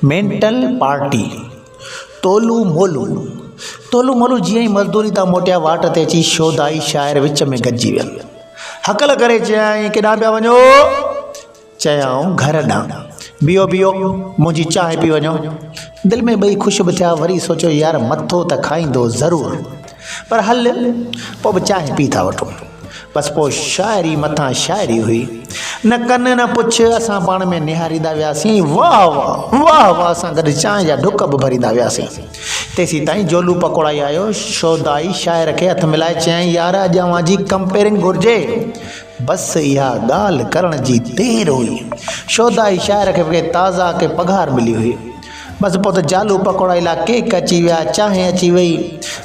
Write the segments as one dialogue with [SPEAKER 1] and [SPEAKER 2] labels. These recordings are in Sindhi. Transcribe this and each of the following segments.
[SPEAKER 1] مينٽل پارٽي تولو مولو تولو مولو جيئن ئي مزدوري تان موٽيا واٽ تي اچي شودائي شاعر وچ ۾ گڏجي ويا هڪل ڪري چيائين ڪيڏانهن پيا وڃو چيائون گهر ڏانهن بيهو بيهو منهنجي چانهه پي وڃو دل ۾ ٻئي خوش به ٿيا وري سوچيو يار مٿو ته کائيندو ضرور پر هل پوء به چانهه پي ٿا وٺون بس پوء شاعري مٿان شاعري هئي. نه ڪن نه پڇ اسان پاڻ ۾ نهاريندا وياسين. واهه واهه، واهه واهه سان گڏ چانهه جا ڍڪ به ڀريندا وياسين. تيسين تائين جولو پڪوڙائي آيو. شودائي شاعر کي هٿ ملائي چيائين، يار اڄ اوهان جي ڪمپيئرنگ گهرجي. بس اها ڳالهه ڪرڻ جي دير هئي. شودائي شاعر کي به ڪي تازا ڪي پگهار ملي هئي. بس پوء ته جالو پڪوڙا لاء ڪيڪ اچي ويا، چانهه اچي وئي.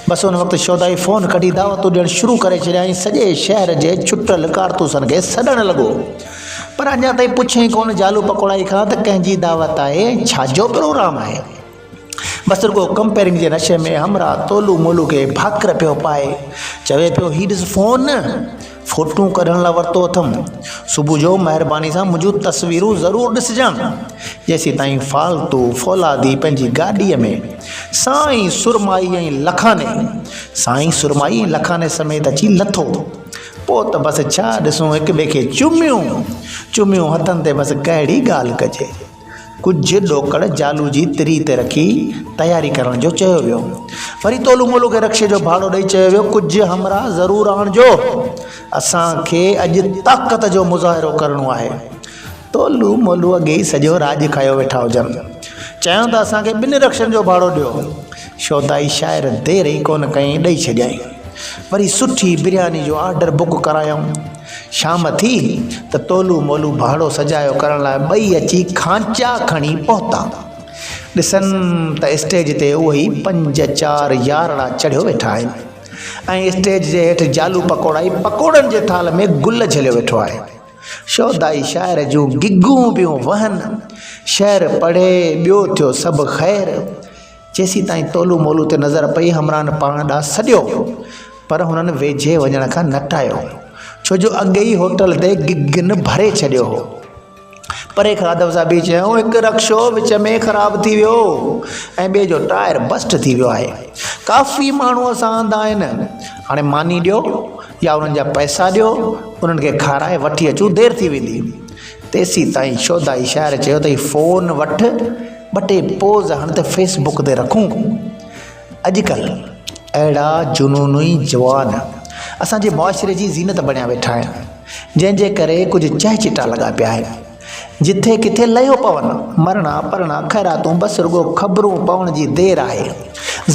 [SPEAKER 1] بس ان وقت شودائي فون ڪڍي دعوتون ڏيڻ شروع ڪري ڇڏيا ۽ سڄي شهر جي چٽل ڪارتوسن کي سڏڻ لڳو. پر اڃا تائين پڇيائين ڪونه جالو پڪوڙائي کان ته ڪنهن جي دعوت آهي ۽ ڇا جو پروگرام آهي. بس رڳو ڪمپيئرنگ جي نشي ۾ همراهه تولو مولو کي ڀاڪر پيو پائي. چوي پيو هي ڏس فون. فوٽون ڪڍڻ لاء ورتو اٿم صبح جو مهرباني سان منهنجون تصويرون ضرور ڏسجان جيسين تائين فالتو فولادي پنهنجي گاڏي ۾ سائين سرمائي ۽ لکاني سائين سرمائي ۽ لکاني سميت اچي لٿو پوء ته بس ڇا ڏسون هڪ ٻئي کي چميون چميون هٿن تي بس ڪهڙي ڳالهه ڪجي ڪجهه ڏوڪڙ جالو جي تري تي رکي تياري ڪرڻ جو چيو ويو. وري تولو مولو کي رڪشي جو ڀاڙو ڏئي چيو ويو ڪجهه همراهه ضرور آڻجو. اسان کي اڄ طاقت جو مظاهرو ڪرڻو آهي. تولو مولو اڳي ئي سڄو راڄ کايو ويٺا هجن. چيائون ته اسان کي ٻن رڪشن جو ڀاڙو ڏيو. شودائي شاعر دير ئي ڪونه ڪيائين ڏئي ڇڏيائين. وري سٺي برياني جو آرڊر بڪ ڪرايائون. شام ٿي ته تولو مولو ڀاڙو سجايو ڪرڻ لاء ٻئي اچي کانچا کڻي پهتا. ڏسن ته اسٽيج تي اهي پنج چار يارڙا چڙهيو ويٺا آهن ۽ اسٽيج جي هيٺ جالو پڪوڙائي پڪوڙن جي ٿالهه ۾ گل جهليو ويٺو آهي. شودائي شاعر جون گگون پيون وهن، شعر پڙهي ٻيو ٿيو سڀ خير. جيسيتائين تولو مولو تي نظر پئي همراهن پاڻ ڏانهن سڏيو پر هنن ويجهي وڃڻ کان نه ٽايو ڇو جو اڳي ئي هوٽل تي گگن ڀري ڇڏيو هو. پري کان ادب سان بي چيائون هڪ رڪشو وچ ۾ خراب ٿي ويو ۽ ٻئي جو ٽائر بسٽ ٿي ويو آهي ڪافي ماڻهو اسان هنڌ آهن هاڻي ماني ڏيو يا انهن جا پئسا ڏيو انهن کي کارائي وٺي اچون دير ٿي ويندي. تيسيتائين شودائي شاعر چيو تئي فون وٺ ٻه ٽي پوز هڻ ته فيس بڪ تي رکون. اڄڪلهه اهڙا جنوني جوان اسان جي معاشري جي زينت بڻيا ويٺا آهن جنهن جي ڪري ڪجهه چهه چٽا لڳا پيا آهن جٿي ڪٿي لهيو پون. مرڻا پرڻا خيراتون بس رڳو خبرون پوڻ جي دير آهي.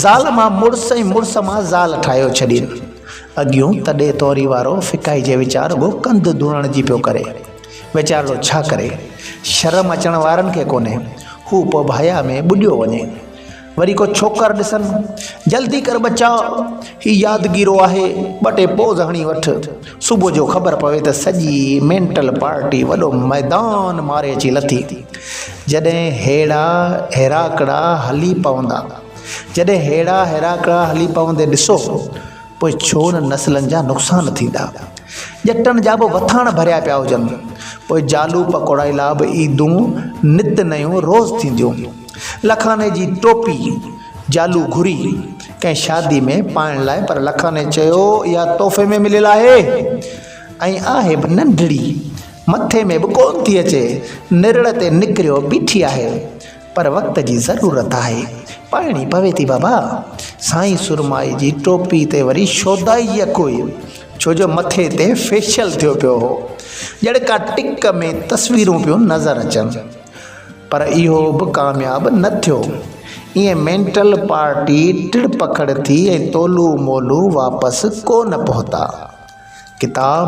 [SPEAKER 1] زال مان مڙس ۽ مڙس مان زال ٺاهيو ڇڏين. اڳيون تڏي توري وارو فڪائي جي وچان رڳو ڪنڌ ڌوڻڻ جي پيو ڪري. ويچارڙو ڇا ڪري؟ شرم اچڻ وارن کي ڪونهي. هو پوء ڀايا ۾ ٻڏيو وڃي. وري ڪو ڇوڪر ڏسن. جلدي ڪر ٻچا! هي يادگيرو آهي. ٻه ٽي پوز هڻي وٺ. صبح جو خبر پوي ته سڄي مينٽل پارٽي وڏو ميدان ماري اچي لٿي. جڏهن هيڙا هيراڪڙا هلي پوندا. جڏهن هيڙا هيراڪڙا هلي پوندي ڏسو. پوء ڇو انهن نسلن جا نقصان ٿيندا؟ ڄٽن جا به وٿاڻ ڀريا پيا هجن. پوء جالو پڪوڙائي لا به عيدون نت نيون روز ٿينديون. لکاني جي ٽوپي، جالو گهري، ڪنهن شادي ۾ پائڻ لاء پر لکاني چيو اها تحفي ۾ مليل آهي ۽ آهي به ننڍڙي، مٿي ۾ به ڪونه ٿي اچي، نرڙ تي نڪريو بيٺي آهي. پر وقت جي ضرورت آهي. پائڻي پوي ٿي بابا. سائين سرمائي جي ٽوپي تي وري شودائي يڪ هئي. ڇو جو مٿي تي فيشل ٿيو پيو هو. ڄڙڪا ٽڪ ۾ تصويرون پيون نظر اچن. پر اهو به ڪامياب نه ٿيو. ائين مينٽل پارٽي ٽڙ پکڙ ٿي ۽ تولو مولو واپس ڪو نه پهتا. ڪتاب.